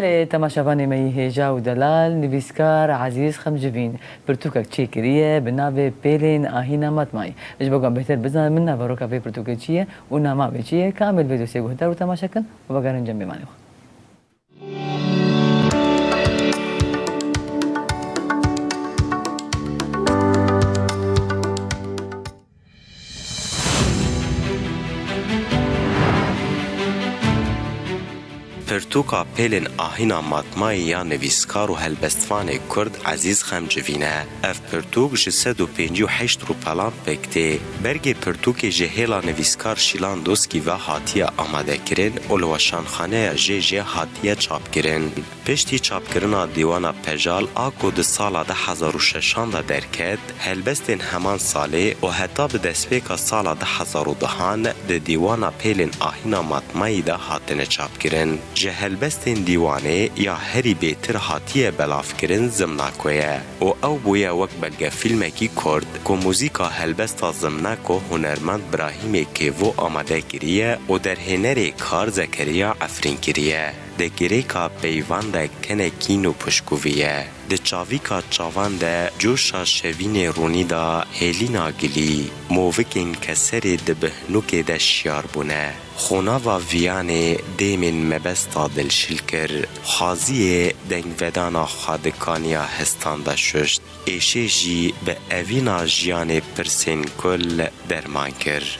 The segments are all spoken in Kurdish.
Belê temaşevanê me yî hêja û delal, nivîskar Ezîz Xemcivîn pirtûkek çê kiriye bi navê Pêlên Ahîna Matmayî. Ji bo ku em bêhtir bizanin min naveroka vê pirtûkê çi ye û nama wê çi ye, kamê li vê dosyê guhdar û temaşe kin û vegerin cem mêvanê xwe. Pirtûka pêlên ahîna matmayî ya nivîskar û helbestvanê kurd Ezîz Xemcivîn e. Ev pirtûk ji sed û pêncî û heşt rûpelan pêk tê. Bergê pirtûkê ji hêla nivîskar Şîlan Doskî ve hatiye amadekirin û li Weşanxaneya JJ hatiye çapkirin. Piştî çapkirina dîwana Pejal a ku di sala de hezar û şeşan de derket, helbestên heman salê û heta bi destpêka sala de hezar û duhan di dîwana Pêlên Ahîna Matmayî de hatine çapkirin. Ji helbestên dîwanê ya herî bêtir hatiye belavkirin Zimnako ye û ew bûye wek belgefîlmekî kurt ku muzîka helbesta Zimnako hunermend Brahîmê Kêvo amade kiriye û derhênerê Kar Zekeriya efrîn kiriye. Di girêka peyvan de kene kîn û pişkûvî ye. Di çavîka çavan de coşa şevînê rûnî da hêlîna gilî. Movikên keserê di bihnûkê de şiyar bûne. Xonava viyanê dêmên mebesta dilşil kir. Xaziyê dengvedana xwe di kaniya hestan de şuşt. Êşê jî bi evîna jiyanê pirsên kul derman kir.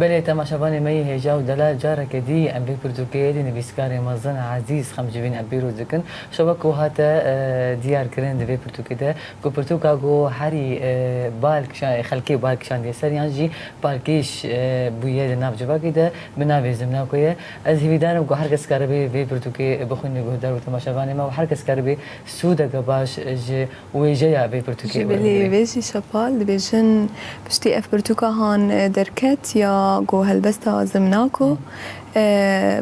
Belê temaşevanê me yê hêja û delal careke dî em bê pirtûkê dê nivîskarê mezin Ezîz xem ji vîn em pîroz dikin şewa ku hate diyar kirin di vê pirtûkê de ku pirtûka ku herî bal kişan xelkê bal kişandiye ser yan jî balkêş bûye di nav civakê de bi navê Zimnako ye. Ez hîvîdar im ku her kes karibê vê pirtûkê bixwîne guhdar û temaşevanê me û her kes karibê sûdeke baş ji wêjeya vê pirtûkê werbigrê. Ji bilî vê jî şepal dibêjin piştî ev pirtûka han derket ya ku helbesta Zimnako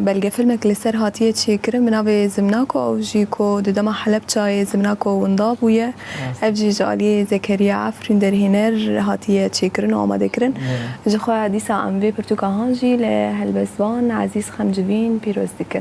belgefilmek li ser hatiye çêkirin bi navê Zimnako ew jî ku di dema Helepçayê Zimnako winda bûye ev jî ji aliyê Zekeriya Efrîn derhêner hatiye çêkirin û amadekirin. Jixwe dîsa em vê pirtûka han jî li helbestvan Ezîz Xemcivîn pîroz dikin.